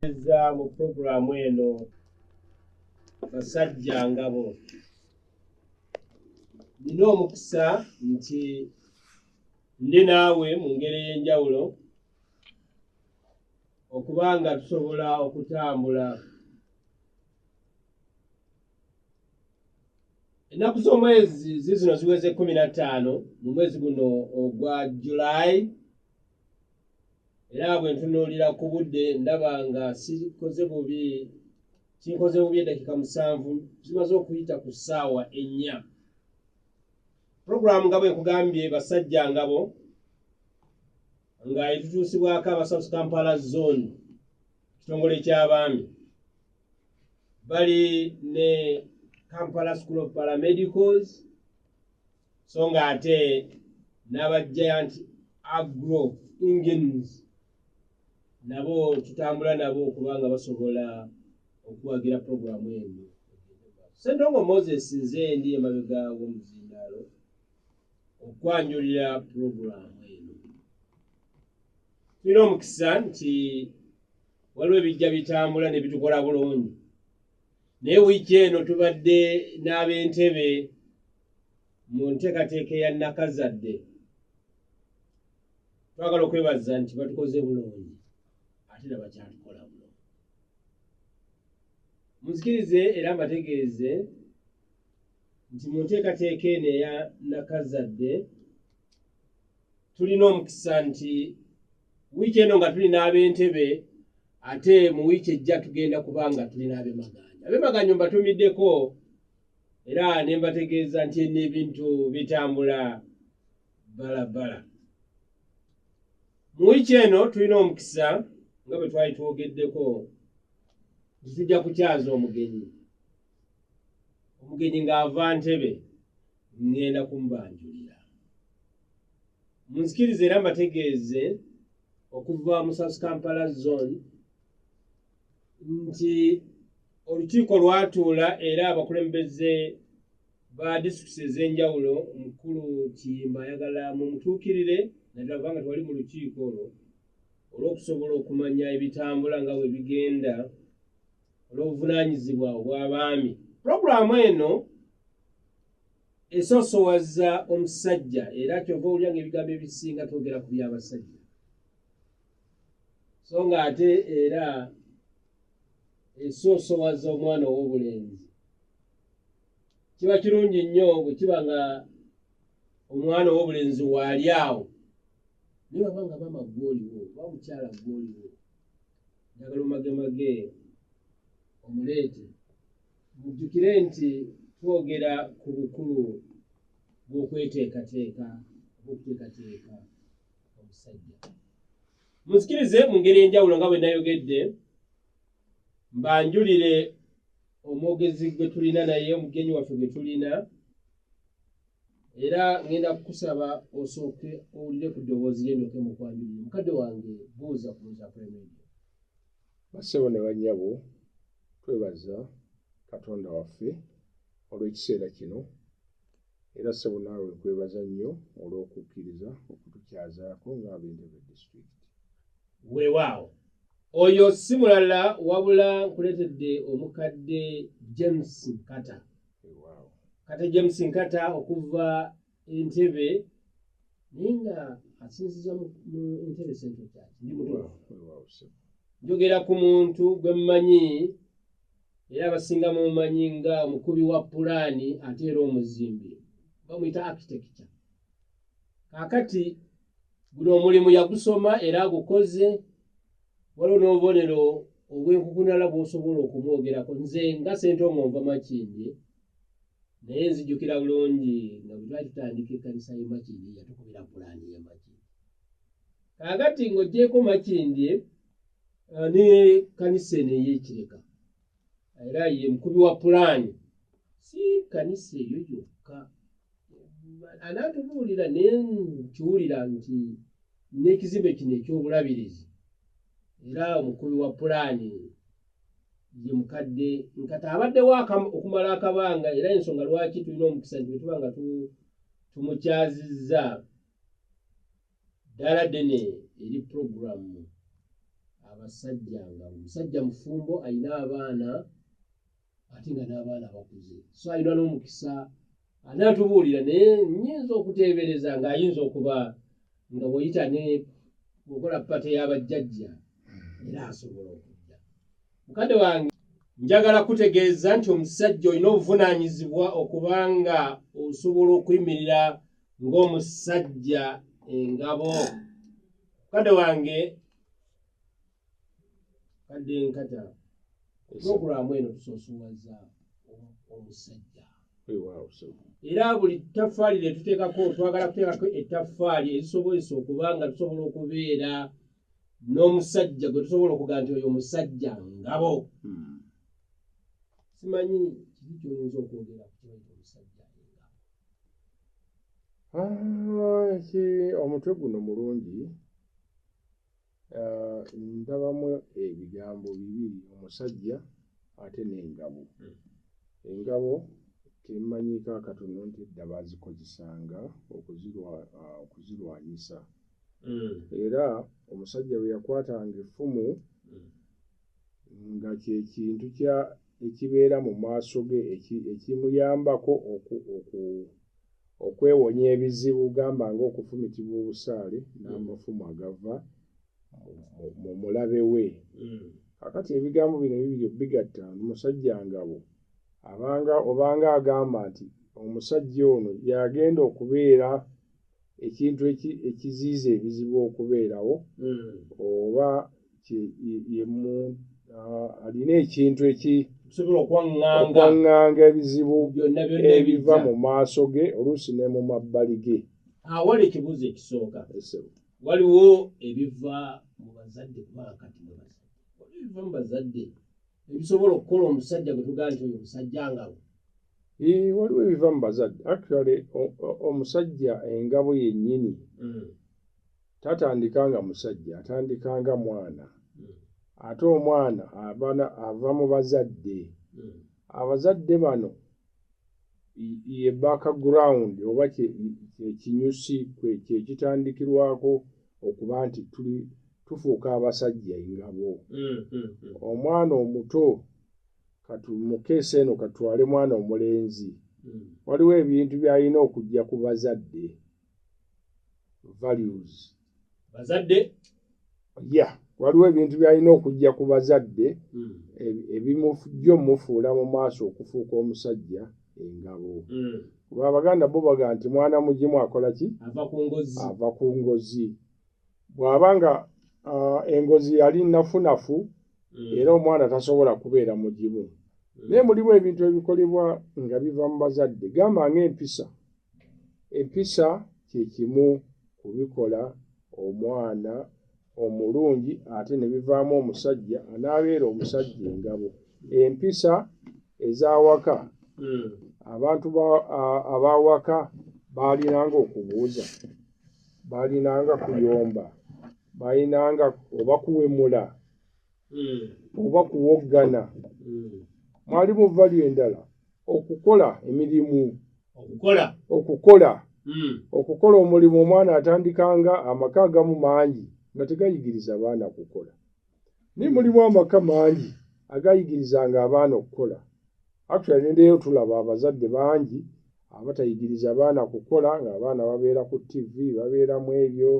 eza mu puroguramu eno basajja ngabo nina omukisa nti ndi naawe mu ngeri ey'enjawulo okuba nga tusobola okutambula ennaku z'omwezi zizino ziweze kumi na ttaano mu mwezi guno ogwa julayi era bwe ntunuulira ku budde ndaba nga sikoze bubi kinkoze bubi eddakiika musanvu zimaze okuyita ku ssaawa ennya puroguramu nga bwe nkugambye basajja ngabo nga etutuusibwako aba south kampala zone kitongole ky'abaami bali ne kampala school of paramedicals so nga ate n'aba giant agro engines nabo tutambula nabo okubanga basobola okuwagira puroguramu eno sentongo moses nze ndi emabega w'omuzindaalo okwanjulira puroguramu eno tulina omukisa nti waliwo ebijja bitambula ne bitukola bulungi naye wiiki eno tubadde n'ab'entebe mu nteekateeka eya nakazadde twagala okwebaza nti batukoze bulungi ate na bakyatukola bulungi muzikirize era mbategeeze nti mu nteekateeka eno eya nakazadde tulina omukisa nti wiiki eno nga tuli n'ab'entebe ate mu wiiki ejja tugenda kuba nga tuli n'abemaganja abemaganja mbatumiddeko era ne mbategeeza nti eno ebintu bitambula balabbala mu wiiki eno tulina omukisa nga bwe twali twogeddeko nti tujja kukyaza omugenyi omugenyi ng'ava ntebe ŋŋenda kumubanjulira munzikiriza era mbategeeze okuva mu south kampala zone nti olukiiko lwatuula era abakulembeze ba disitulikiti ez'enjawulo mukulu kiyimba ayagala mu mutuukirire naddala kubanga twali mu lukiiko olwo olw'okusobola okumanya ebitambula nga bwe bigenda olw'obuvunaanyizibwa obw'abaami pulogulaamu eno esoosowaza omusajja era kyova owulira nga ebigambo ebisinga twogera ku by'abasajja so nga ate era esoosowaza omwana ow'obulenzi kiba kirungi nnyo bwe kiba nga omwana ow'obulenzi waali awo naye baba nga mama gwoliwo oba mukyala gwoliwo njagala omagemage omuleete mujjukire nti twogera ku bukulu bw'okweteekateeka oba okuteekateeka muzikirize mu ngeri enjawulo nga bwe nayogedde mbanjulire omwogezi gwe tulina naye omugenyi waffe gwe tulina era ŋenda kukusaba osooke owulire ku ddoboozi lye ndoke mu kwanjulire mukadde wange buuza ku buuza premedia basebo ne banyabo twebaza katonda waffe olw'ekiseera kino Era ssebo naawe nkwebaza nnyo olw'okukkiriza okutukyazaako ng'ab'Entebe District. Weewaawo. Oyo si mulala wabula nkuleetedde omukadde James Nkata. Weewaawo. Kata James Nkata okuva Entebe naye nga asinziza mu Entebe Central Church. Ndi mutuufu. Weewaawo ssebo. Njogera ku muntu gwe mmanyi. era abasinga mumanyi nga omukubi wa pulaani ate era omuzimbi bamuyita architecture kakati guno omulimu yagusoma era agukoze waliwo n'obubonero obwenkukunala bwosobola okumwogerako nze nga sente omu nva makindi naye nzijukira bulungi nga bwetwali tutandika ekkanisa yemakindi yatukubira pulaani yemakindi kakati ng'ogyeko makindye Ah, ne kanisa eno eyekireka era ye mukubi wa pulaani si kanisa eyo yokka anaatubuulira naye nkiwulira nti n'ekizimbe kino eky'obulabirizi era omukubi wa pulaani ye mukadde nkata abaddewo okumala akabanga era ensonga lwaki tulina omukisa nti bwetuba nga tumukyazizza ddala ddene eri pulogulaamu abasajja nga omusajja mufumbo alina abaana ate nga n'abaana bakuze so alina n'omukisa anaatubuulira naye nyinza okuteebereza ng'ayinza okuba nga bweyita ne mukola pate y'abajjajja era asobola okujja mukadde wange njagala kutegeeza nti omusajja olina obuvunaanyizibwa okuba nga osobola okuyimirira ng'omusajja engabo mukadde wange kadde nkata pulogulaamu eno tusosowaza omusajja era buli ttaffaali lye tuteekako twagala kuteekako ettaffaali ezisobozesa okuba nga tusobola okubeera n'omusajja gwe tusobola okuga nti oyo omusajja ngabo hmm. simanyi kiki kyoyinza okwogera ki omutwe guno mulungi ah, ndabamu ebigambo bibiri omusajja ate n'engabo hmm. engabo temanyiiko akatono nti edda bazikozesanga ah, okuzirwanyisa hmm. era omusajja bwe yakwatanga effumu hmm. nga kye kintu kya ekibeera mu maaso ge ekimuyambako oku, oku, okwewonya ebizibu gamba ng'okufumitibwa obusaale n'amafumu agava mu mulabe we mm. kakati ebigambo bino bibiri bigatta musajja ngabo abanga obanga agamba nti omusajja ono yagenda okubeera ekintu ekiziiza ebizibu okubeerawo mm. oba alina ekintu ekisobola okwaŋŋanga ebizibu ebiva mu maaso ge oluusi ne mu mabbali ge awali ekibuuzo ekisooka waliwo ebiva mu bazadde kubanga kati ebiva mu bazadde ebisobola okukola omusajja gwe tugaa nti oyo omusajja ngabo waliwo ebiva mu bazadde actually omusajja engabo yennyini mm. tatandika nga musajja atandika nga mwana hmm. ate omwana abana ava mu bazadde hmm. abazadde bano ye background oba kyekinyusi kyekitandikirwako okuba nti tuli tufuuka abasajja engabo hmm, omwana omuto katumukeesa eno katwale mwana omulenzi waliwo ebintu byalina okujja ku bazadde values bazadde ya waliwo ebintu byalina okujja ku bazadde hmm. ebimujjo mufuula mu maaso okufuuka omusajja engabo hmm. kuba abaganda bo baga nti mwana mugimu akola ki ava ku ngozi bw'aba nga uh, engozi yali nafunafu mm. era omwana tasobola kubeera mugimu mm. naye mulimu ebintu ebikolebwa nga biva mu bazadde gamba ng'empisa empisa kye kimu kubikola omwana omulungi ate ne bivaamu omusajja anaabeera omusajja engabo empisa ez'awaka mm. abantu ab'awaka baalinanga okubuuza balinanga kuyomba balinanga oba kuwemula hmm. oba kuwoggana hmm. mwali muvali endala okukola emirimu okukola okukola hmm. okukola omulimu omwana atandikanga amaka agamu mangi nga tegayigiriza baana kukola naye mulimu amaka mangi agayigirizanga abaana okukola actually nendeyo tulaba abazadde bangi abatayigiriza baana kukola ngaabaana babeera ku tv babeera mu ebyo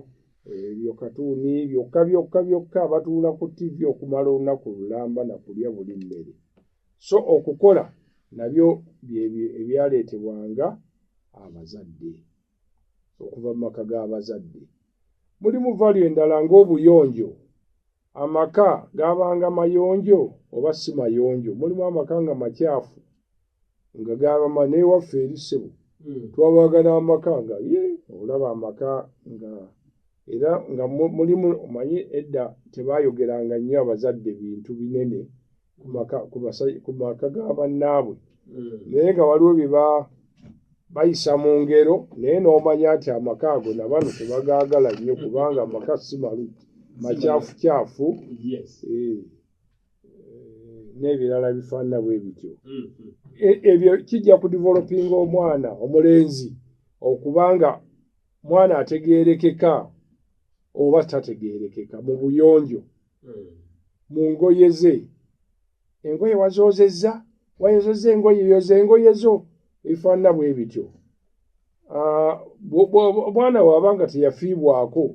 ebyo eh, katuuni byokka byokka byokka batuula ku tv okumala olunaku lulamba na kulya buli mmere so okukola nabyo ebyaleetebwanga abazadde okuva mu maka g'abazadde. Mulimu valu endala ng'obuyonjo. Amaka gaabanga mayonjo oba si mayonjo. Mulimu amaka nga makyafu nga gaabama n'ewaffe eri ssebo. Hmm. Twabagala amaka nga ye olaba amaka nga era nga mulimu omanyi edda tebayogeranga nnyo abazadde bintu binene. ku maka ga bannaabwe hmm. naye nga waliwo byeba bayisa mu ngero naye n'omanya nti amaka ago nabano tebagaagala nnyo kubanga amaka si malu makyafukyafu eh, eh, n'ebirala bifaanana bwe bityo hmm, hmm. E, ebyo kijja ku developinga omwana omulenzi okubanga mwana ategeerekeka oba tategeerekeka mu buyonjo mu ngoye ze engoye wazoozezza wayozezza engoye yoza engoye zo ebifaanana bwe bityo ah, omwana waaba nga teyafiibwako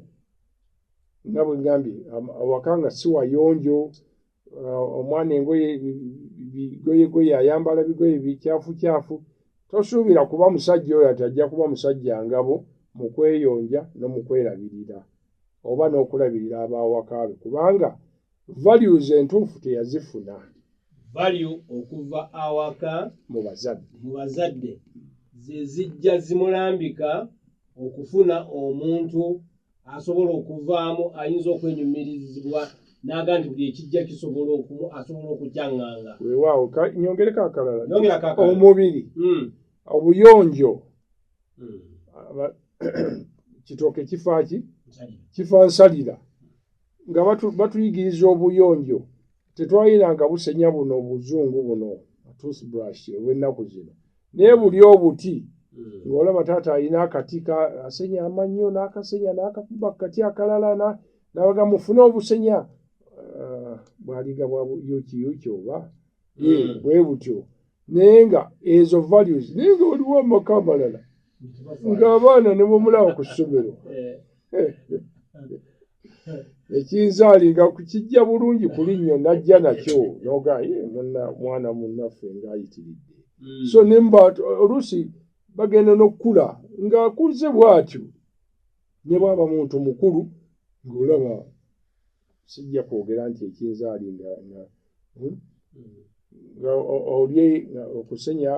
nga bwe ngambye awaka nga si wayonjo ah, omwana engoye bigoyegoye ayambala bigoye bikyafukyafu tosuubira kuba musajja oyo ati ajja kuba musajja ngabo mu kweyonja n'omukwerabirira oba n'okulabirira ab'awaka be kubanga values entuufu teyazifuna value okuva awaka mu bazadde mu bazadde ze zijja zimulambika okufuna omuntu asobola okuvaamu ayinza okwenyumirizibwa naga nti buli ekijja kisobola okumu asobola okukyanganga wewaawo nyongereko akalala omubiri hmm. obuyonjo kitooke kifaaki kifa nsalira nga batuyigiriza obuyonjo tetwayiranga busenya buno obuzungu buno toothbrush obwennaku zino naye buli obuti hmm. ng'olaba taata alina akati asenya amannyo n'akasenya n'akakuba kati akalala nabaga mufune obusenya ah, bwaliga bwa yukiyuki oba hmm. bwe butyo naye nga ezo values naye nga waliwo amaka amalala ng'abaana ne bwemulaba ku ssomero ekinzaalinga kukijja bulungi kuli nnyo najja nakyo noga mwana munnaffe ng'ayitiridde hmm. so nemba oluusi bagenda n'okukula ng'akuze bw'atyo ne bwaba muntu mukulu ng'olaba sijja kwogera nti ekinzaali nga nga hmm? olye okusenya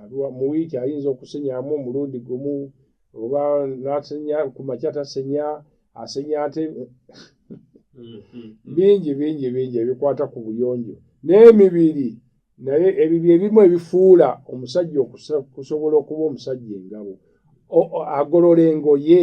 aliwa mu wiiki ayinza okusenyamu omulundi gumu oba nasenya ku makya tasenya asenya ate mm-hmm. bingi bingi bingi ebikwata ku buyonjo n'emibiri naye ebyo byebimu ebifuula omusajja okusobola okuba omusajja engabo agolola engoye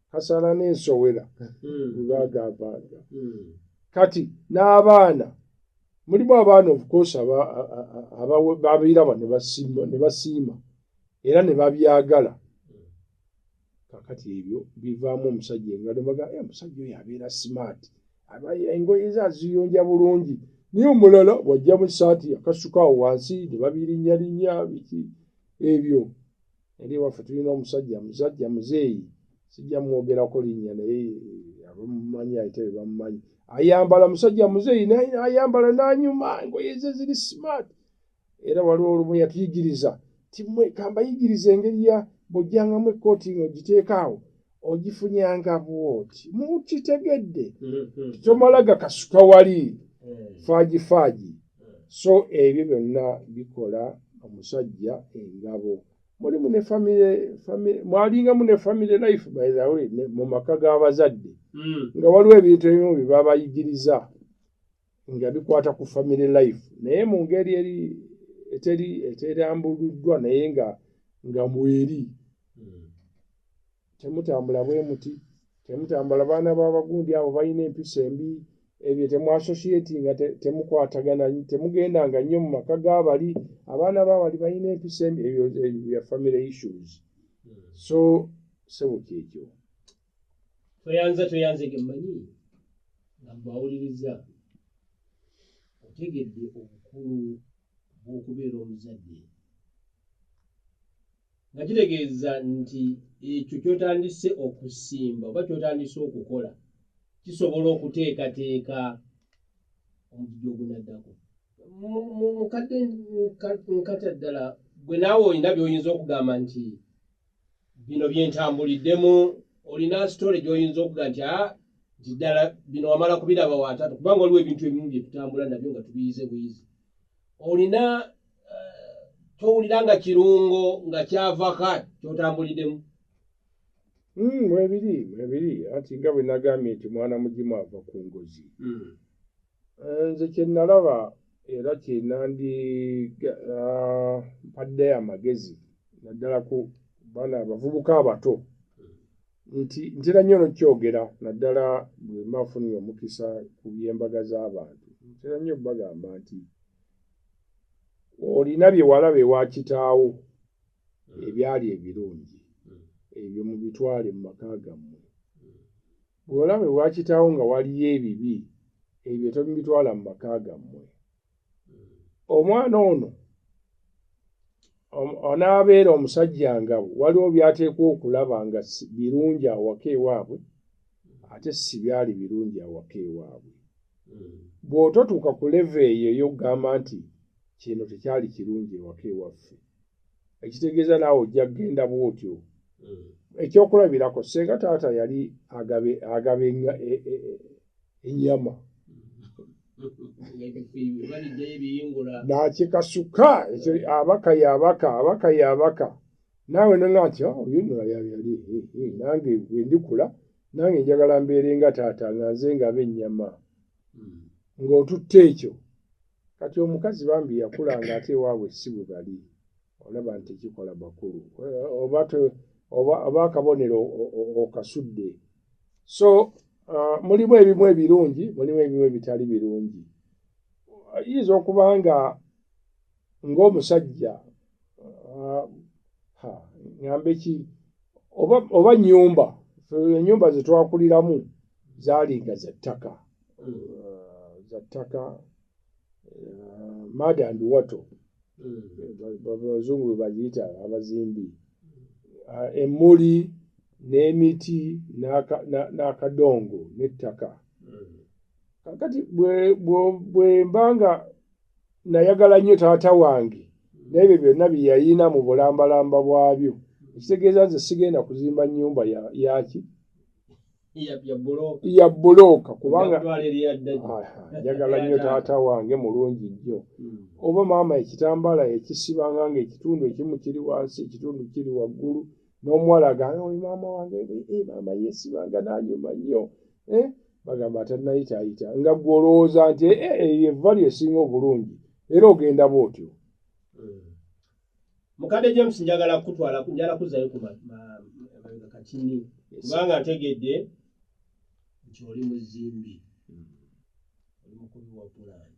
kasala n'ensowera webagambanga hmm. hmm. kati n'abaana mulimu abaana obukosi babiraba ne basiima era ne babyagala kakati ebyo bivaamu omusajja engalomaga eh, omusajja oyo abeera simaati engoye ze aziyonja bulungi naye omulala wajja mu saati akasuka awo wansi ne babirinnyalinya biki ebyo eri ewaffe tulina omusajja musajja muzeeyi sijja mwogerako linnya naye eh, abamumanyi ayite be bamumanyi ayambala musajja muzeeyi ayambala n'anyuma engoye ze ziri smart era waliwo olumu yatuyigiriza timwe kambayigiriza engeri ya bwojjangamu ekkooti nga ogiteekaawo ogifunyanga bwoti mukitegedde mm-hmm. tomalaga kasuka wali mm. faaji faaji mm. so ebyo byonna bikola omusajja engabo mulimu ne famire mwalingamu ne famire life by the way mu maka g'abazadde mm. nga waliwo ebintu ebimu bye babayigiriza nga bikwata ku family life naye mu ngeri eri eteri eterambuluddwa naye nga nga mweri hmm. temutambula bwe muti temutambula baana b'abagundi abo balina empisa embi ebyo temwasosiyeti nga temukwatagana temugenda nga nnyo mu maka g'abali abaana b'abali balina empisa embi ebyo bya family issues hmm. so sebuka ekyo toyanza toyanze gemmanyi nga mbawuliriza otegedde obukulu bw'okubeera omuzadde nga kitegeeza nti ekyo kyotandise okusimba oba kyotandise okukola kisobola okuteekateeka omugigi ogunaddako mukadde nkata ddala gwe naawe olina byoyinza okugamba nti bino byentambuliddemu olina sitole gyoyinza okuga nti a ah, nti ddala bino wamala kubiraba watatu kubanga waliwo ebintu ebimu byetutambula nabyo nga tubiyize buyizi olina eh, towulira nga kirungo nga kyavaka kyotambuliddemu hmm, mwebiri mwebiri anti nga bwenagambye nti mwana mugimu ava ku ngozi hmm. Eh, nze kyenalaba era kyenandi ah, mpadde amagezi naddala ku baana abavubuka abato nti ntera nnyo nokyogera naddala bwemba afunire omukisa ku byembaga z'abantu ntera nnyo bagamba nti olina byewalaba ewakitaawo ebyali ebirungi ebyo mubitwale mu maka gammwe Bw'olaba ewa kitaawo nga waliyo ebibi ebyo tobitwala mu maka gammwe. Omwana ono onaabeera omusajja nga waliwo by'ateekwa okulaba nga birungi awaka ewaabwe ate si byali birungi awaka ewaabwe. Hmm. Bw'ototuuka ku leve eyo ey'okugamba nti kino tekyali kirungi ewaka ewaffe, hmm. ekitegeeza naawe ojja kugenda bwotyo hmm. ekyokulabirako senga taata yali agaba enyama nakikasuka ekyo abaka yabaka abaka yabaka naawe nonga nti oh, oyonora yali nange wendikula nange njagala mbeere nga taata nga nze ngaaba enyama hmm. ng'otutte ekyo kati omukazi bambi yakula nga ate ewaabwe si bwe bali olaba nti kikola bakulu oba akabonero okasudde so uh, mulimu ebimu ebirungi mulimu ebimu ebitali birungi ayinza okuba nga ng'omusajja ah, ŋambe ki oba nyumba enyumba zetwakuliramu zalinga zattaka ah, zattaka ah, mada and wato hmm. abazungu bebaziyita abazimbi emuli n'emiti n'akadongo n'ettaka hmm. kakati bwemba nga nayagala nnyo taata wange naye byo byonna byeyayina mu bulambalamba bwabyo ekitegeeza nze sigenda kuzimba nyumba yaki ya bulooka kubanga njagala nnyo taata wange mulungi nnyo hmm. oba maama ekitambaala ekisibanga nga ekitundu ekimu kiri wansi ekitundu kiri waggulu n'omuwala agamba oyo maama wange eh, maama yesibanga nanyuma nnyo eh, bagamba atanayitaayita nga gwe olowooza nti eh, eyo evva lyesinga obulungi era ogenda bwotyo hmm. mukadde james njagala kutwala njala kuzayo ku mabega kakini kubanga ntegedde nti oli muzimbi hmm. oli mukubi wa pulani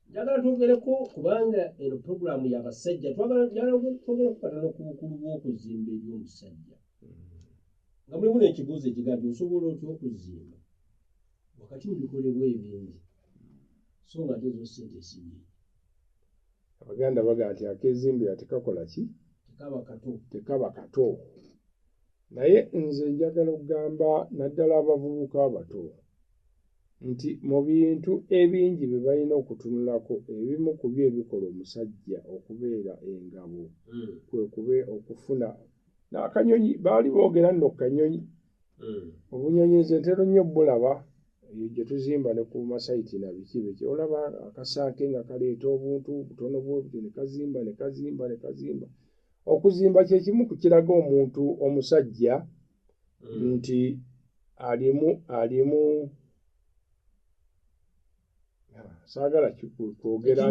njagala twogereko kubanga eno puroguramu yabasajja twagalaogera kukatana ku bukulu bw'okuzimba eri omusajja nga mulimu n'ekibuuzo ekigati osobola otya okuzimba wakati mu bikolebwa ebingi so nga ate ezo sente esinyingi abaganda baga nti akezimbira tekakola ki tekaba kato tekaba kato naye nze njagala okugamba naddala abavubuka abato nti mu bintu ebingi bye balina okutunulako ebimu ku byo ebikola omusajja okubeera engabo mm. kwe kube okufuna n'akanyonyi baali boogera nno kanyonyi mm. obunyonyi nze ntero nnyo bulaba eyo gye tuzimba ne ku masayiti na biki biki olaba akasanke nga kaleeta obuntu butono bwebuti ne kazimba ne kazimba ne kazimba okuzimba kye kimu ku kiraga omuntu omusajja mm. nti alimu alimu saagala kwogera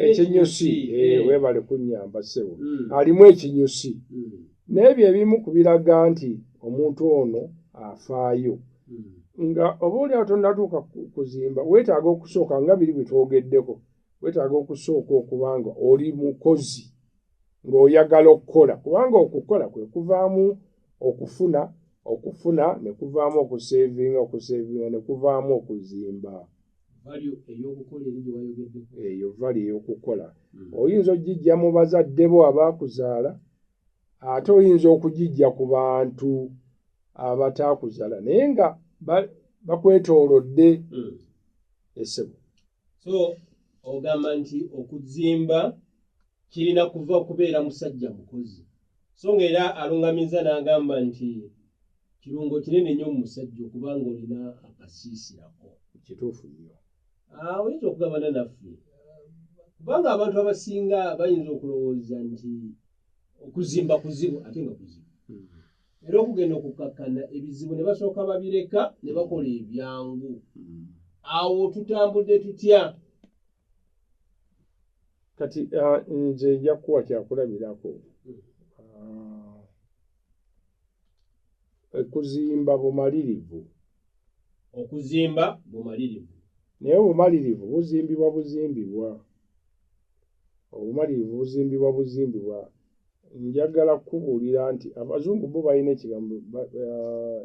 ekinyusi eh, eh. webale kunyamba sebo hmm. alimu ekinyusi hmm. n'ebyo ebimu ku biraga nti omuntu ono afaayo hmm. nga oba oli awo tonnatuuka kuzimba weetaaga okusooka nga biri bwe twogeddeko weetaaga okusooka okuba nga oli mukozi ng'oyagala okukola kubanga okukola kwe kuvaamu okufuna okufuna ne kuvaamu okuseevinga okuseevinga ne kuvaamu okuzimba eyo vali ey'okukola hmm. oyinza okugijja mu bazadde bo abaakuzaala ate oyinza okugijja ku bantu abataakuzaala naye nga bakwetoolodde hmm. esebo so ogamba nti okuzimba kirina kuva kubeera musajja mukozi so nga era alungamiza n'agamba nti kirungo kinene nnyo mu musajja okuba nga olina akasiisirako kituufu nnyo ah, oyinza okugabana naffe kubanga abantu abasinga bayinza okulowooza nti okuzimba kuzibu ate nga kuzibu hmm. era okugenda okukkakkana ebizibu ne basooka babireka ne bakola ebyangu mm. awo tutambudde tutya kati uh, nze njakuwa kyakulabirako mm. uh, okuzimba bumalirivu okuzimba bumalirivu naye obumalirivu buzimbibwa buzimbibwa obumalirivu buzimbibwa buzimbibwa njagala kukubuulira nti abazungu bo balina ekigambo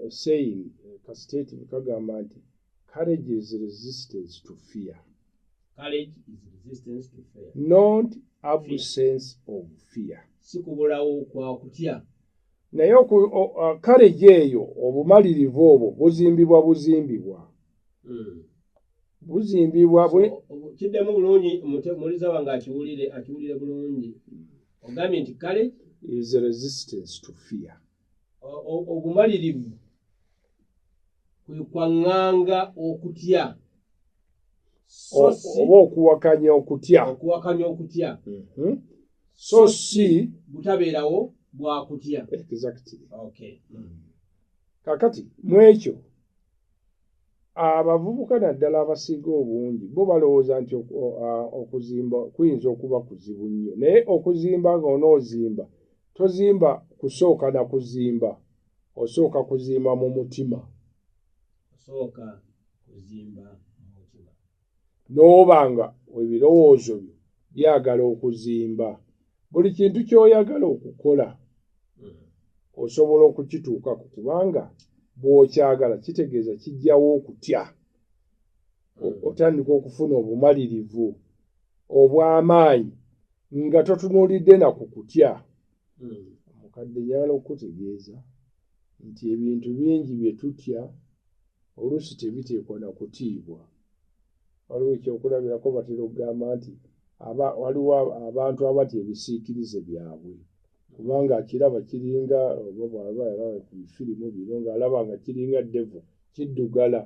esayin eh, eh, kasiteti kagamba nti courage is resistance to fear courage is resistance to fear not absence of fear sikubulawo kwa kutya naye courage eyo obumalirivu obwo buzimbibwa buzimbibwa hmm. buzimbibwa bwe kiddemu bulungi muliza wange akiwulire akiwulire bulungi ogambye nti kale is a resistance to fear obumalirivu kwe kwaŋŋanga okutya oba okuwakanya okutya okuwakanya okutya mhm. so si butabeerawo bwakutya exactly okay. mm. kakati mwekyo abavubuka naddala abasiiga obungi bo balowooza nti okuzimba kuyinza okuba kuzibu nnyo naye okuzimba ng'onoozimba tozimba kusooka na kuzimba osooka kuzimba mu mutima osooka kuzimba n'oba nga ebirowoozo byo byagala okuzimba buli kintu ky'oyagala okukola hmm. osobola okukituukako kubanga bw'okyagala kitegeeza kijjawo okutya hmm. otandika okufuna obumalirivu obw'amaanyi nga totunuulidde na ku kutya hmm. omukadde yala okutegeeza nti ebintu bingi bye tutya oluusi tebiteekwa na kutiibwa waliwo ekyokulabirako batera okugamba nti waliwo abantu abatya ebisiikirize byabwe kubanga akiraba kiringa oba bwaba yalaba ku bifirimu bino ng'alaba nga kiringa devo kiddugala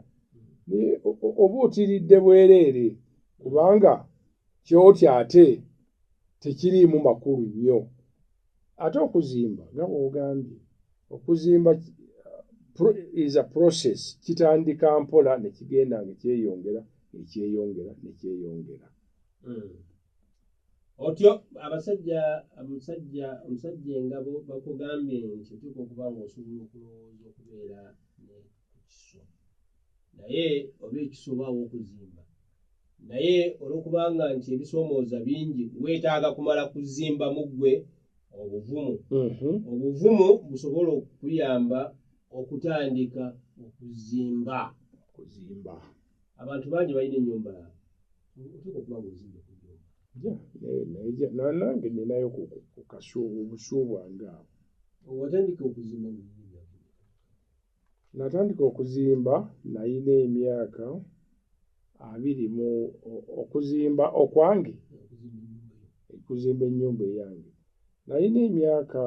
oba otiridde bwereere kubanga kyotya ate tekiriimu makulu nnyo ate okuzimba nga bwogambye okuzimba is a process kitandika mpola nekigenda nga kyeyongera ekyeyongera nekyeyongera hmm. otyo abasajja omusajja omusajja engabo bakugambye nti otuuka okuba nga osobola okulowooza okubeera ku kiso naye oba ekiso obaawo okuzimba naye olwokubanga nti ebisoomooza bingi weetaaga kumala kuzimba mu ggwe obuvumu mm-hmm. obuvumu busobola okuyamba okutandika okuzimba kuzimba abantu bangi balina enyumba oteeka okuba nga ozimba kunyumba nange ninayo kukasuubu obusuubwange awo watandika okuzimba Natandika okuzimba nalina emyaka abiri mu okuzimba okwange okuzimba ennyumba eyange nalina emyaka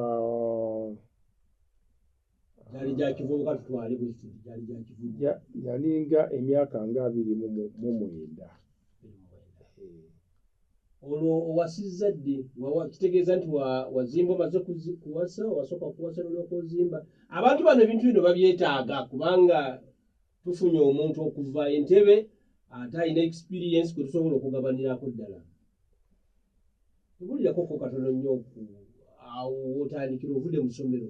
yalinga emyaka nga abiri mu mwenda olwo owasizza ddi kitegeeza nti wazimba omaze kuwasa wasooka kuwasa nolyoka ozimba abantu bano ebintu bino babyetaaga kubanga tufunye omuntu okuva entebe ate alina experience kwe tusobola okugabanirako ddala tubulirako ko katono nnyo ku awo wotandikira ovude musomero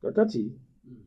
kakati hmm.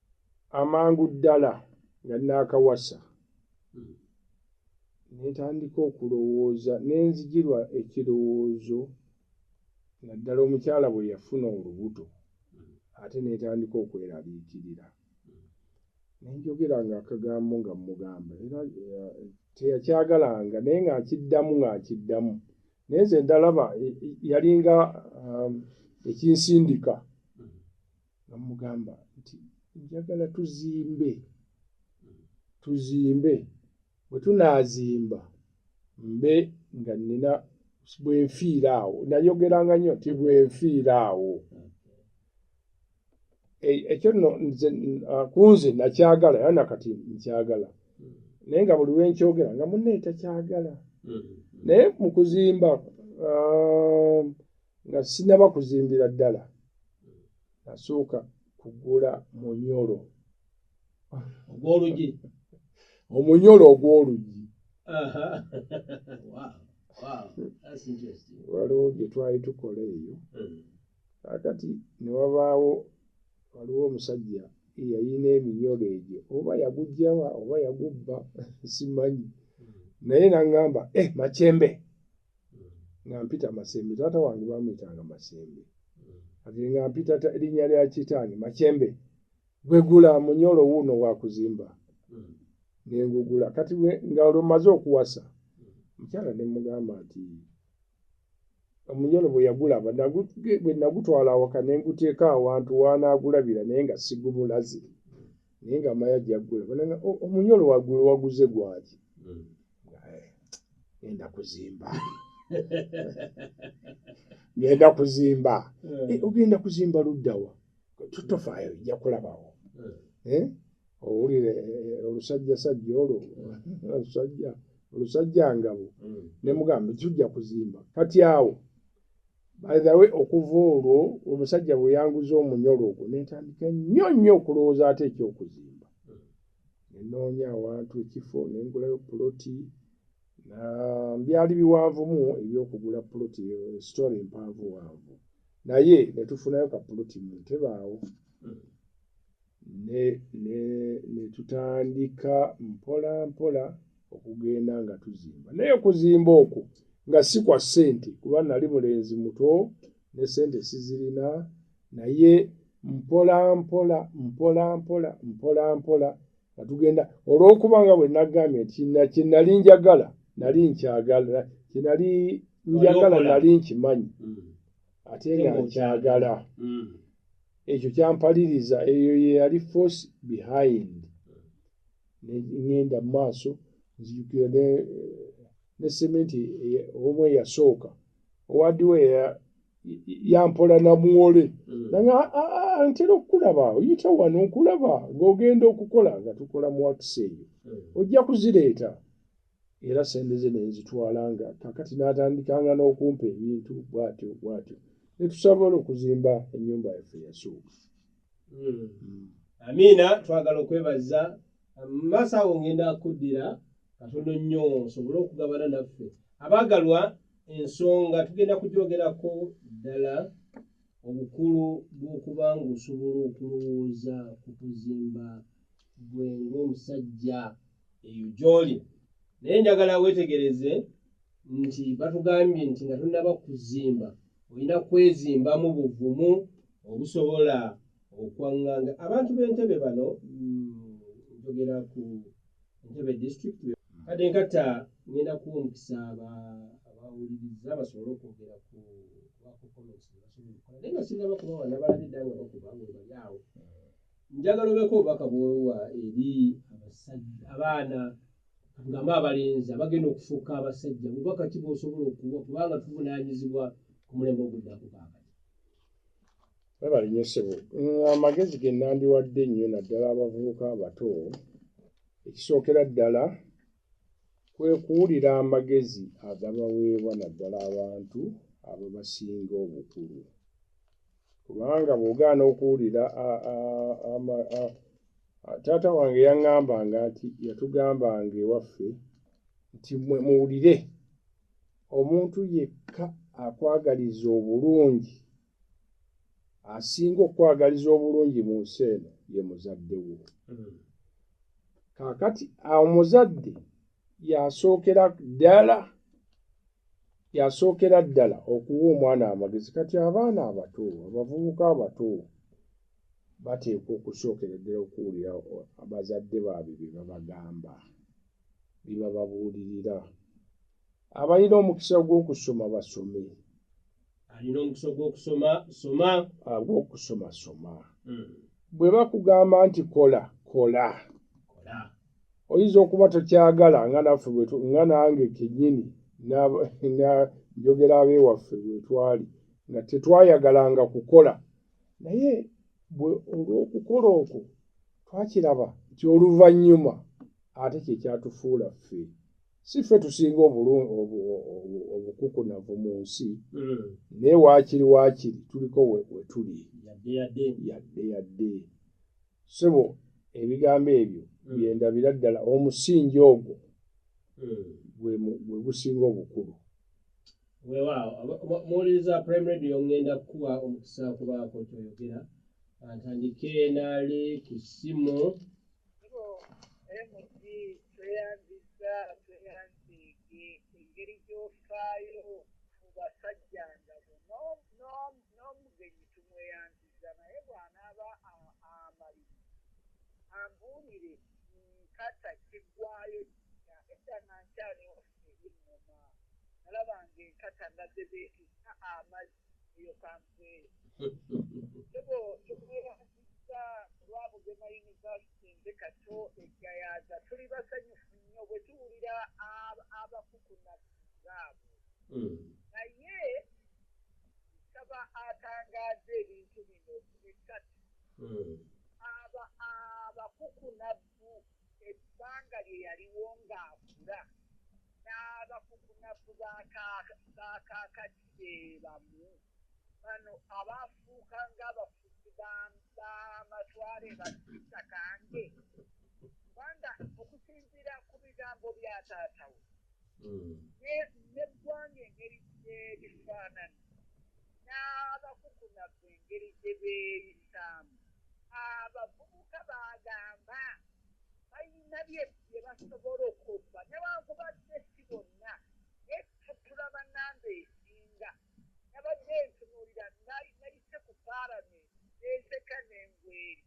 amangu ddala nga naakawasa nentandika okulowooza nenzijirwa ekirowoozo naddala omukyala bwe yafuna olubuto ate netandika okwerabiikirira nenjogera nga akagambo nga mugamba era eh, teyakyagalanga naye ngaakiddamu ngaakiddamu naye nze ndalaba eh, yalinga um, ekinsindika nga mugamba nti njagala tuzimbe tuzimbe bwe tunaazimba mbe nga nnina bwenfiira awo nayogeranga nnyo nti bwenfiira awo e, ekyo nno ku nze nakyagala era nakati nkyagala naye nga buli lwenkyogera nga munne takyagala mm-hmm. naye mu kuzimba um, nga sinaba kuzimbira ddala nasooka kugula munyolo ogwolugi omunyolo ogwolugi waliwo gye twali tukola eyo hmm. kakati ne wabaawo waliwo omusajja eyalina eminyolo egyo oba yagujjawa oba yagubba simanyi hmm. naye nagamba e eh, makyembe nga mpita masembe taata wange bamuyitanga masembe ati nga mpita linnya lya kitaani makyembe gwegula munyolo wuuno wakuzimba nengugula kati nga olwo maze okuwasa mukyala ne mugamba nti omunyolo bwe yagula bwe nagutwala awaka ne nguteeka awantu wanaagulabira naye nga sigumulazi naye nga maya jagula bananga oh, omunyolo wagula waguze gwaki hmm. eh, genda kuzimba genda kuzimba hmm. eh, ogenda kuzimba luddawa tutofayo ojja kulabawo eh? owulire olusajja sajja olwo olusajja olusajja ngabo nemugamba tujja kuzimba kati awo by the way okuva olwo omusajja bwe yanguza omunyolo ogwo nentandika nnyo nnyo okulowooza ate ekyokuzimba nenoonya awantu ekifo nengulayo puloti byali biwanvumu ebyokugula puloti sitore empanvu wanvu naye netufunayo kapuloti muntebaawo ne, ne, ne tutandika mpola mpola okugenda nga tuzimba naye okuzimba okwo nga si kwa ssente kuba nali mulenzi muto ne ssente sizirina naye mpola mpola mpola mpola mpola mpola nga tugenda olw'okuba nga bwe nagambye nti kye nali njagala nali nkyagala kye nali njagala nali nkimanyi mm. ate nga nkyagala mm. ekyo kyampaliriza eyo yeyali force behind ngenda mumaaso nzijukira ne eh, sementi eh, omu eyasooka owadiwo yampola namuwole mm. nanga ah, ah, ah, ntera okukulaba oyita wano nkulaba ngaogenda okukola nga tukola muwakisa eyo mm. ojja kuzireeta era sente ze nenzitwalanga kakati n'atandikanga n'okumpa ebintu bwatyo bwatyo netusabola okuzimba ennyumba yaffe yasooka hmm. hmm. amiina twagala okwebaza mumaaso awo ngenda kuddira katono nnyo osobole okugabana naffe abaagalwa ensonga tugenda kugyogerako ddala obukulu bw'okuba ng'osobola okulowooza ku kuzimba gwe ng'omusajja eyo gy'oli naye njagala weetegereze nti batugambye nti nga tonnaba kuzimba olina kwezimbamu buvumu obusobola okwaŋŋanga abantu b'entebe bano mm, njogera ku entebe district kade nkata ngenda kuwa omukisa abawuliriza basobole okwogera ku bakukomenti naye nga sinaba kubawa nabalabidda nga bakuba nga bali awo njagala obeeko obubaka bwowa eri abasajja abaana katugambe abalenzi abagenda okufuuka abasajja bubaka ki bwosobola okuwa kubanga tuvunanyizibwa ku mulembe oguddako kakati webalinyesebo amagezi genandiwadde nnyo naddala abavubuka abato ekisookera ddala kwe kuwulira amagezi agabaweebwa naddala abantu ababasinga obukulu kubanga bw'ogaana okuwulira taata wange yaŋŋambanga nti yatugambanga ewaffe nti mwe muwulire omuntu yekka akwagaliza obulungi asinga okukwagaliza obulungi mu nsi eno ye muzadde wo hmm. kakati omuzadde yasookera ddala yasookera ddala okuwa omwana amagezi kati abaana abato abavubuka abato bateekwa okusookera ddala okuwulira abazadde baabwe bye babagamba bye bababuulirira abalina omukisa gw'okusoma basome alina omukisa ogwokusoma soma agwokusoma ah, soma hmm. bwe bakugamba nti kola kola oyinza okuba tokyagala nga naffe nga nange kenyini njogera abewaffe bwetwali nga tetwayagalanga kukola naye olwokukola okwo twakiraba nti oluvannyuma ate kyekyatufuula ffe si ffe tusinga obukukunavu mu nsi hmm. naye waakiri waakiri tuliko wetuli yadde yadde sebo ebigambo ebyo hmm. byendabira ddala omusingi ogwo hmm. gwe gusinga obukulu wewaawo muwuliriza prime radio ngenda kukuwa omukisa kubaako kyoyogera antandike naali ku ssimu mg tweyanziza tweyanzeege engeri gyofaayo ku basajja nga buno n'omugenyi tumweyanziza naye bwanaaba amaliri ambuulire nkata kiggwayo kika edda nga nkyali waffe ebinnoma nalaba nga enkata nga zebeetusa amazi eyo kanse ebo tukubeerangisa olwa bugema yunivasite nze kato eggayaaza tuli basanyufu nnyo bwe tuwulira abakukuna zaabo hmm. naye nsaba atangaaza ebintu bino bisatu hmm. abakukuna mu ebbanga lye yaliwo ng'akula n'abakukunavu ba kaakati be bamu. Bano abaafuuka ng'abafuzi b'amatwale ba Sitta Kange kubanga okusinziira ku bigambo bya taata we hmm. n'eggwanga engeri gyerifaanana n'abakukunavu engeri gye beeyisaamu abavubuka baagamba balina bye basobola okola newankubadde si bonna naye tutula banamba esinga nabadde ntunuulira nayise ku paalamenti nenseka nengweri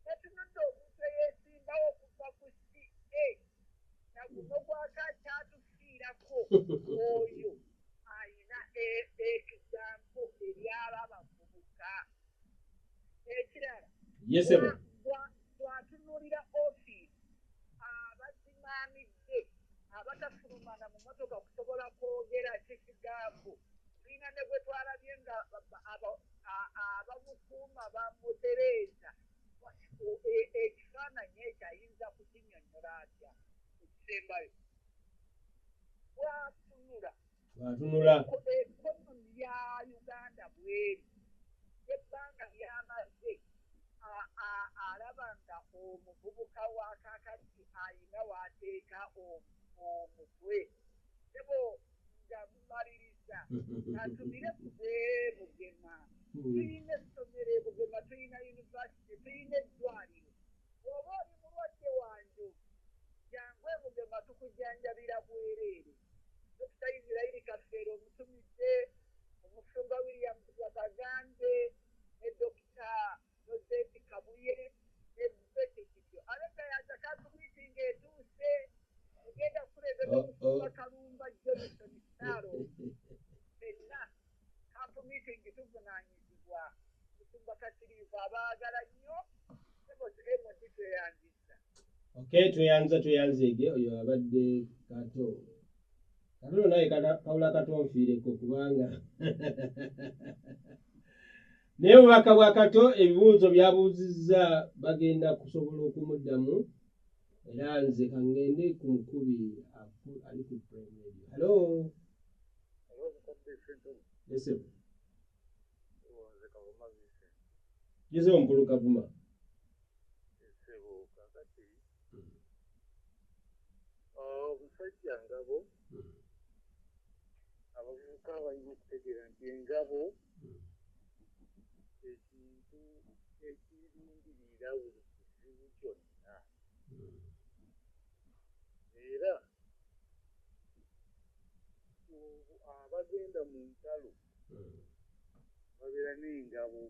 natunudde omuntu eyesimbawo okuva ku ca naguno gwakakyatufiirako oyo alina e, e, ekigambo ebyaba abavubuka ekirala yesebo bwatunulira ofiisi abazimaamidde abatafulumana mu motoka kusobola kwogera kikigambo tulina ne gwe twalabye nga abamukuuma bamutereeza e, ekifaananyi ekyo ayinza kukinyonyola atya ekisembayo bwatunula atunula ya uganda bweri ebbanga lyamaze alaba nga omuvubuka wa kakati ayina wateeka omutwe ebo nga mumaliriza atumire kuze bugema hmm. tuyina essomero ebugema tuyina univesity tuyina eddwaliro oba oli mulwadde wanjo jangu ebugema tukujanjabira bwereere Dokita Israeli Kafeero omutumidde omusumba William Babagambe ne Dokita Joseph Kabuye ne Betty Kityo abedda ya Zakaatu miitingi etuuse egenda kukulemberwa omusumba Kalumba Johnson Sitaalo fenna kampu miitingi tuvunaanyizibwa omusumba Kasiriivu abaagala nnyo sebo MD tweyanziza Okay, tweyanza tweyanzeege oyo abadde kato katulo naye kawula kato nfiireko kubanga naye obubaka bwa kato ebibuuzo byabuuzizza bagenda kusobola okumuddamu era nze kangende ku mukubi ali ku primary halo Listen. Nyizewo mukulu Kavuma. Ssebo kakati hmm. ah, omusajja ngabo hmm. abavubuka balina okutegeera nti engabo hmm. ekintu ekirindirira buli kizibu kyonna era abagenda mu ntalo babeera n'engabo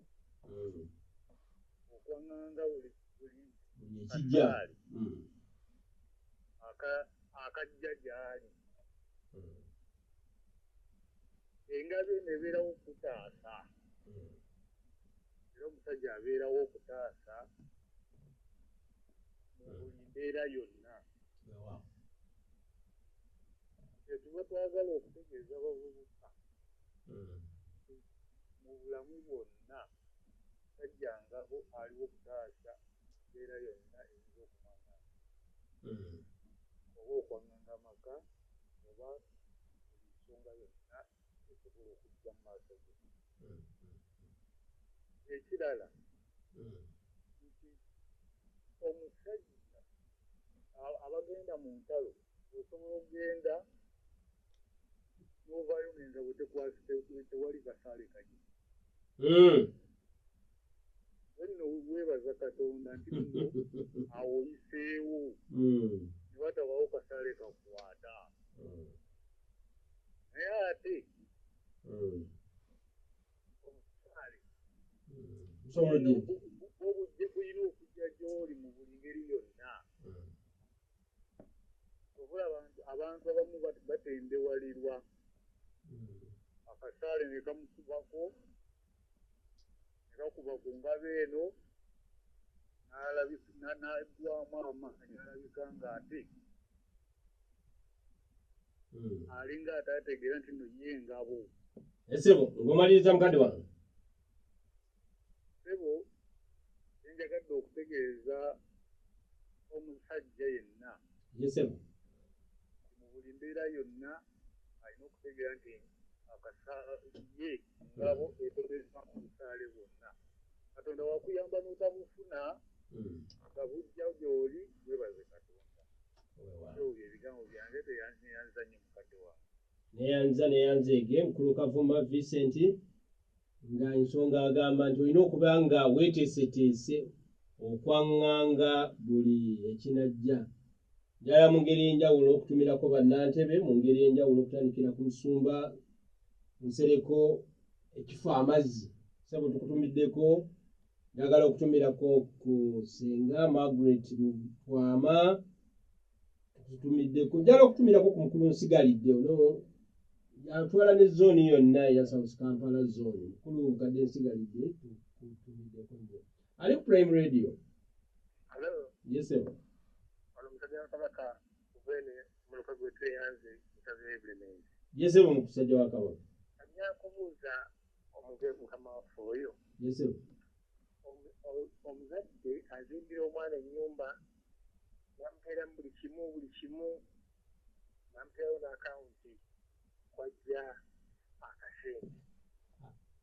okwanganga buli kajjaali akajja gyali engabo eno ebeerawo okutaasa era omusajja abeerawo okutaasa mu buli mbeera yonna kyetuba twagala okutegeeza abavubuka hmm. mu bulamu bwonna tajjangaho aliwo okutaasa embeera yonna eyinza okumanga hmm. oba okwanganga amaka oba buli nsonga yonna esobola okujja mu maaso ge ekirala nti omusajja abagenda mu ntalo osobola okugenda novayo ngenza bwetekwasitewali kasaale kaji hmm. wenno webaza katonda nti awoyiseewo hmm. nebatabawo kasaale kakwata hmm. naye ate hmm. omusaale obujje bulina okujja gy'oli mu buli ngeri yonna hmm. obula abantu abamu batendewalirwa hmm. akasaale ne kamukubako ne kakuba ku ngabo eno n'alabika n'aggwamu amaanyi alabika ng'ate hmm. alinga atategeera nti no ye engabo esebo eh, ngomaliriza mukadde wano sebo enjagadde okutegeeza omusajja yenna yesebo eh, mu buli mbeera yonna alina okutegeera nti ye ngabo etegeeza mu busaale bwonna katonda wakuyamba n'otabufuna hmm. nga bujja gy'oli webaze katonda neyanza neyanzeege mukulu kavuma vincent nga ensonga agamba nti olina okuba nga weteeseteese okwaŋŋanga buli ekinajja njala mu ngeri enjawulo okutumirako bannantebe mu ngeri enjawulo okutandikira ku musumba nsereko ekifo amazzi sebo tukutumiddeko Njagala okutumirako ku Ssenga Margaret Lutwama tutumiddeko njala okutumirako ku mukulu nsigalidde ono yantwala ne zooni yonna eya south kampala zooni mukulu nkadde nsigalidde tutumiddeko nyo ali ku prime radio yesebo yesebo mukusajja wa kabaka omuge mukama waffe oyo omuzadde azimbira omwana enyumba namuteera mu buli kimu buli kimu namuteerawo naakawunti kwajja akasente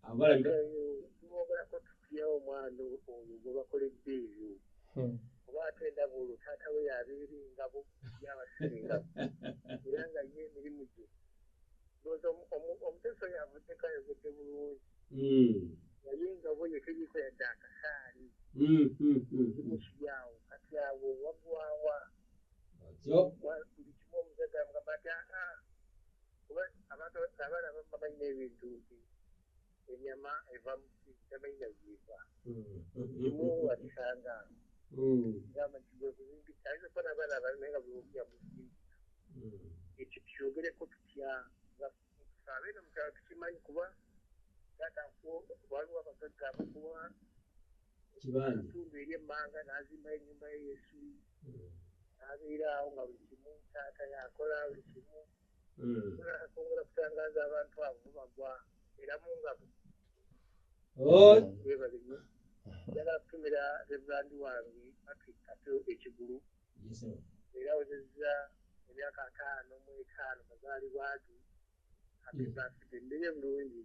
abalagaogerako tutya omwana oyo gwebakoledde ebyo hmm. oba ate endaba olwo taata we yabeera engabo yabasinga era nga ye emirimu gye omuteso yavuddeko ayogedde bulungi naye nga bo yetegeko yadde akasaali kimusibyawo kati awo wagwawa buli kimu omuzaga mugamba ti aa kuba abantu abaana bamma balina ebintu nti enyama eva muki tamanyi nagiva imu wakisanga gamba nti gwekuzimbisa ayinza kuba nabaana abana naye nga bwewogera muzimbisa ekyo kyogereko tutya nga abeeno mukyalo tukimanyi kuba taata waliwo abagagga abakuwa kitundu eri emmanga nazimbayo enyumba ye yesu nabeera awo nga buli kimu taata yakola buli kimu asobola hmm. kutangaza abantu abo bagwa era mu ngabo webalinyo njagala kutumira reverandi wange patrick kato ekigulu era wezezza emyaka ataano mu etaano mazaalibwa ge happy hmm. birthday ndeye bulungi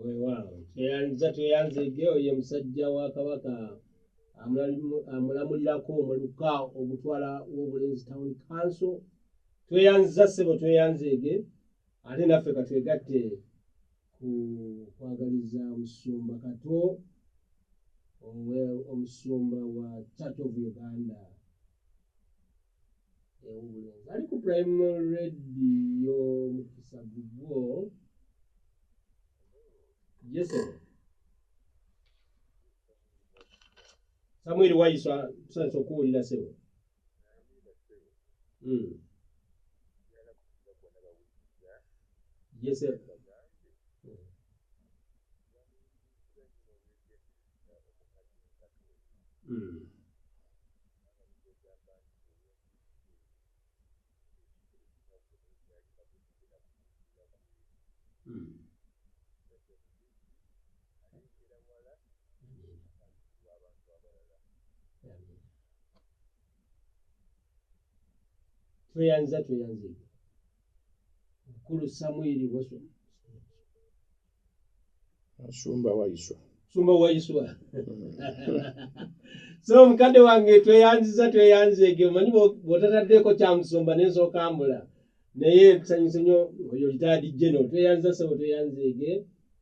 weewaawo tweyanza tweyanza ege oye musajja wa kabaka amulamulirako omuluka ogutwala w'obulenzi town council tweyanziza ssebo tweyanza ege ate naffe katwegatte ku kwagaliza omusumba kato omusumba wa church of uganda ewubulenzi ali ku prime radio mukisa gugwo yeso samwiri wayiswa tusanisa okuwulira sebo mm. yesebo tweyanza tweyanzibwa Mukulu Samwiri Waiswa. Sumba Waiswa. Sumba Waiswa. so mukadde wange tweyanziza tweyanzeege omanyi bwotataddeeko kyamusumba nensookambula naye kusanyusa nyo oyo litaadi geno tweyanziza sebo tweyanzeege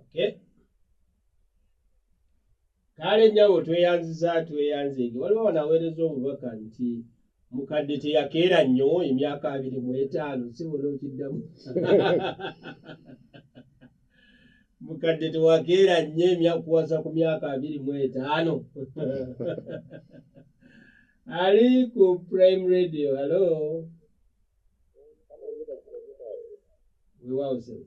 okay kale nyabo tweyanziza tweyanzege waliwo wanaweereza obubaka nti mukadde teyakeera nnyo emyaka abiri mu etaano sibona okiddamu mukadde tewakeera nnyo emyakuwasa ku myaka abiri mu etaano ali ku prime radio halo wewawo sebo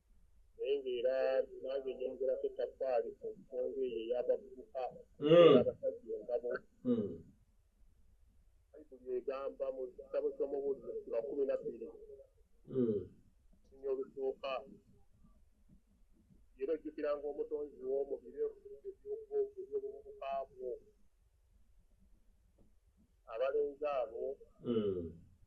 naye ng'era nange nyongerako ettaffaali ku nsonga eyo ey'abavubuka hmm. abasajja engabo hmm. bayibuli egamba mu kitabo ky'omubuuliro sula kumi na bbiri hmm. sinya olusooka era ojjukiranga omutonzi wo mu biro ebyobuvubuka bwo abalenzi abo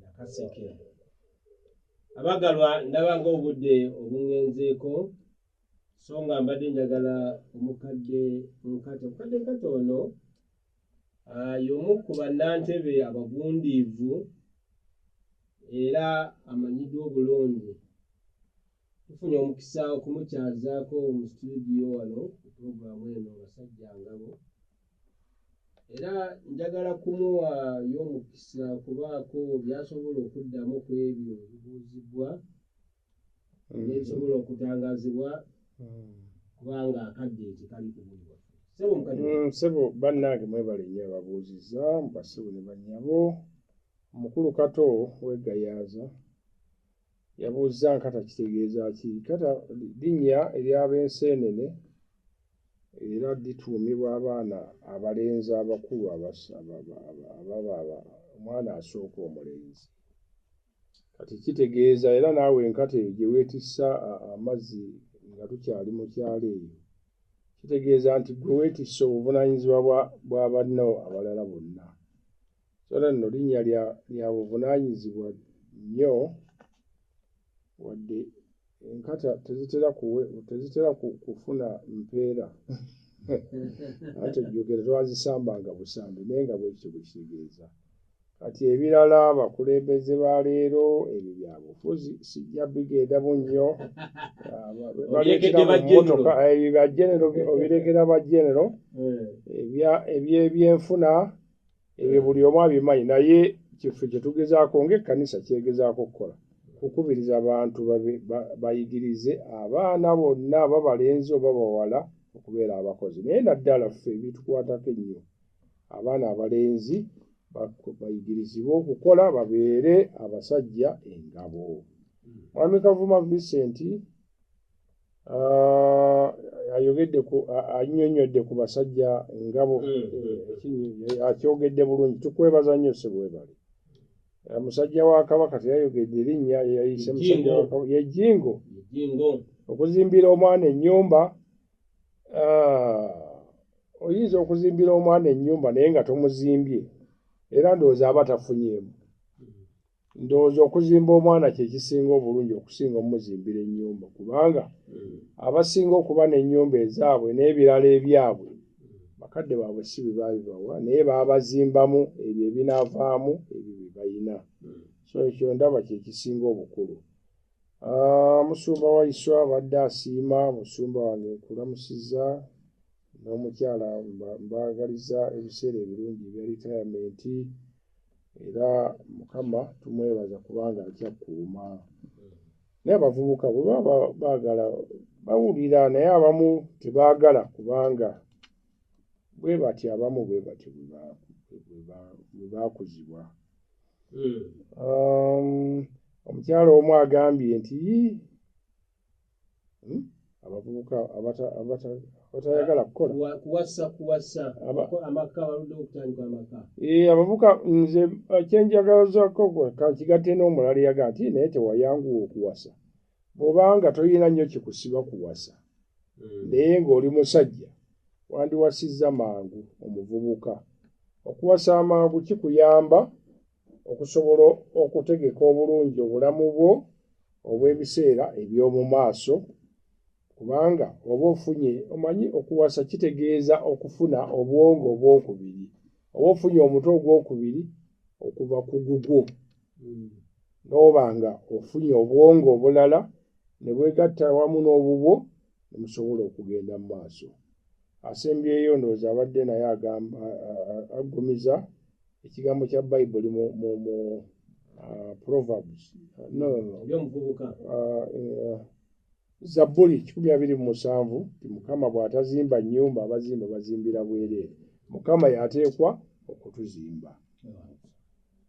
Nakaseke. Abagalwa ndaba ng'obudde obungenzeeko so nga mbadde njagala omukadde nkate omukadde nkate ono ah, y'omu ku bannantebe abagundiivu era amanyiddwa obulungi tufunye omukisa okumukyazaako mu situdiyo wano ku pulogulaamu eno basajja ngabo era njagala kumuwaayo omukisa kubaako byasobola okuddamu ku ebyo ebibuuzibwa mm-hmm. nebisobola okutangazibwa mm-hmm. kubanga akadde tekali kubulibwa sebo mm, bannange mwebale nyo ababuuziza mubasebo ne banyabo omukulu kato wegayaaza Yabuuzza nkata kitegeeza ki? Nkata linnya ery'ab'enseenene era lituumibwa abaana abalenzi abakulu ababa omwana asooka omulenzi. Kati kitegeeza era naawe enkata eyo gye weetissa amazzi nga tukyali mu kyalo eyo, kitegeeza nti gwe weetisse obuvunaanyizibwa bwa banno abalala bonna. sala nno linnya lya buvunaanyizibwa nnyo wadde enkata tezitera kuwe tezitera kufuna mpeera anti ejjogera twazisambanga busambi naye nga bwekityo bwe kitegeeza kati ebirala abakulembeze ba leero ebyo byabufuzi sijja bigenda mu nnyo baleekeamotoka ebyo byajenero obirekera bajenero ebyebyenfuna ebyo buli omu abimanyi naye kife kyetugezaako ngaekkanisa kyegezaako okukola kukubiriza abantu bayigirize abaana bonna aba balenzi oba bawala okubeera abakozi naye naddala ffe ebitukwatako ennyo abaana abalenzi bayigirizibwe okukola babeere abasajja engabo mwami kavuma vicenti Ah, ayogedde ku anyonyodde ku basajja ngabo mm, mm. Eh, akyogedde bulungi tukwebaza nnyo sebwebale eh, musajja wa kabaka teyayogedde erinnya yeyayise musajja yejingo okuzimbira omwana ennyumba ah, oyinza okuzimbira omwana ennyumba naye nga tomuzimbye era ndowooza aba tafunyeemu ndowooza okuzimba omwana kyekisinga obulungi okusinga omuzimbira ennyumba kubanga hmm. abasinga okuba n'ennyumba ezaabwe n'ebirala ebyabwe bakadde baabwe si bebaabibawa naye baabazimbamu ebyo ebinaavaamu ebyo bye balina hmm. so ekyo ndaba kyekisinga obukulu ah, musumba waiswa abadde asiima musumba wange nkulamusiza n'omukyala mbaagaliza ebiseera ebirungi ebya retiremente era mukama tumwebaza kubanga akyakuuma naye abavubuka bwebaba bagala bawulira naye abamu tebagala kubanga bwe bati abamu bwe batyo bwe bakuzibwa hmm. um, omukyalo omu agambye nti hmm? abavubuka abatayagala kukolaabavubuka eh, nze uh, kyenjagazako kankigatte n'omulala yaga nti naye tewayanguwa okuwasa bwobanga tolina nnyo kikusiba kuwasa hmm. naye ng'oli musajja wandiwasizza mangu omuvubuka okuwasa amangu kikuyamba okusobola okutegeka obulungi obulamu bwo obw'ebiseera eby'omu maaso kubanga oba ofunye omanyi okuwasa kitegeeza okufuna obwongo obwokubiri oba ofunye omutwe ogwokubiri okuva ku gugwo hmm. n'oba nga ofunye obwongo obulala ne bwegatta wamu n'obubwo ne musobola okugenda mu maaso asembyeyo ndowooza abadde naye agamba aggumiza ekigambo kya bayibuli mu uh, proverbs zabbuli kikumi abiri mu musanvu ti mukama bw'atazimba nnyumba abazimba bazimbira bwereere mukama yateekwa okutuzimba